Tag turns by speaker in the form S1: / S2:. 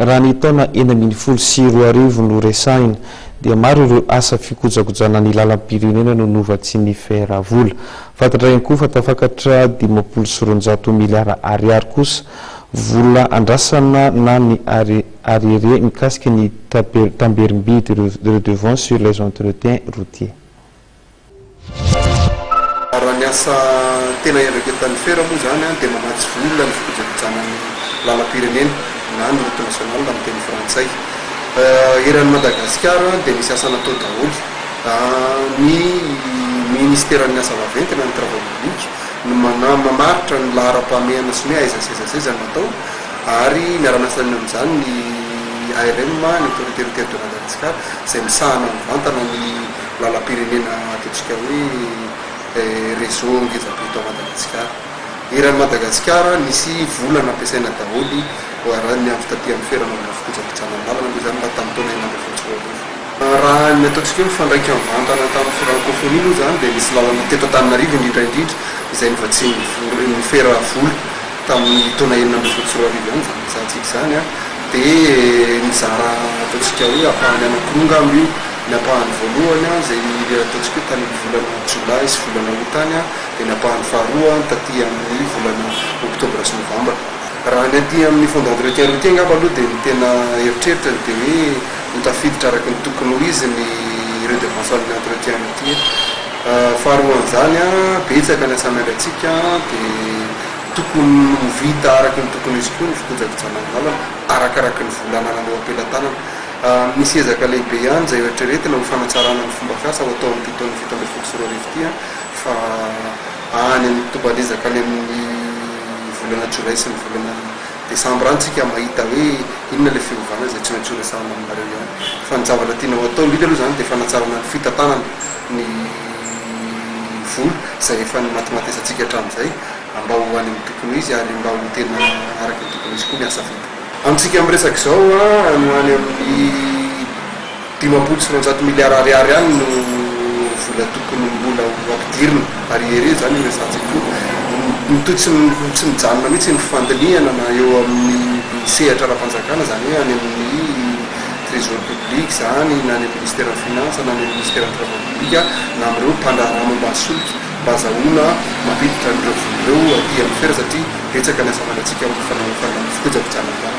S1: Raha ny taona enina ambin'ny folo sy roa arivo no resahina dia maro ireo asa fikojakojana ny lalam-pirenena no novatsian'ny fer vola. Fantatra ihany koa fa tafakatra dimampolo sy roanjato miliara ariary kosa vola andrasana na ny ariere mikasika ny tamberim-bidy redevances sur les entretiens routiers.
S2: Raha ny asa tena iandraiketan'ny Fer moa izany dia manatsy vola ny fikojakojana ny lalam-pirenena na ny route nationale amin'ny teny frantsay. Eran'i Madagasikara dia misy asa natao daholo. Ny Minisiteran'ny asa vaventy na ny Travail public no mamaritra ny laharam-pahamehana sy ny hoe aiza sy aiza sy aiza no atao ary miara-miasa amin'izany ny ARM, ny Autorité Routière de Madagascar, izay misahana mivantana ny. Lalam-pirenena ataontsika hoe réseau ngeza be eto Madagasikara. Eran'i Madagasikara nisy vola nampiasaina daholo raha ny amin'ny fitadihan'ny fera anaovana fikojakojana ny lalana moa izany raha tamin'ny taona enina ambin'ny folo sy roa arivo. Raha ny ataontsika hoe mifandraika mivantana tamin'ny francophonie moa izany dia nisy lalana teto Antananarivo indrindra indrindra izay novatsian'ny fera vola tamin'ny taona enina ambin'ny folo sy roa arivo ihany izany resahantsika izany dia nizara ataontsika hoe ampahany anankiroa angamba io. Ny ampahany voalohany, izay nihiry ataontsika hoe tany amin'ny volana Jolay sy volana Août tany, dia ny ampahany faharoa taty amin'ny volana Oktobra sy Novambra. Raha ny aty amin'ny Fonds d'entretien routier angamba aloha dia ny tena eritreritrany dia hoe ho tafiditra araka ny tokony ho izy ny redevance amin'ny entretien routier. Faharoan'izany, betsaka ny asa miandratsika dia tokony ho vita araka ny tokony ho izy koa ny fikojakojanan'ny lalana, arakaraky ny vola anananao am-pelatanana. Misy ezaka lehibe ihany izay eritreretina ho fanatsarana ny fomba fiasa ho atao amin'ity taona fito ambin'ny folo sy roa arivo ity fa any amin'ny tombam-b'ezaka any amin'ny volana jolay sy ny volana desambra any isika mahita hoe inona ilay fiovana izay tsy maintsy horesahana aminareo ihany fa ny zavatra tiana ho atao indrindra aloha izany dia fanatsarana ny fitantanana ny vola izay efa nimatimatesantsika hatramin'izay mba ho any amin'ny tokony ho izy ary mba ho tena araka ny tokony ho izy koa ny asa vita. Amintsika miresaka izao, any ho any amin'ny dimampolo sy roanjato miliara ariary any no vola tokony mbola ho ampidirina, ary ery izany io resahantsika io. Mitohy tsy tsy mijanona mihitsy ny fandinihana na eo amin'ny sehatra ara-panjakana, izany hoe any amin'ny Trésor public izany, na any amin'ny Ministeran'ny Finances, na any amin'ny Ministeran'ny Travaux publics, na amin'ireo mpandraharaha momba ny solika. Mba azahoana mampiditra an'ireo vola ireo aty amin'ny fer satria betsaka ny asa fandratsika amin'ny fanaovana ny fikojakojana ambany.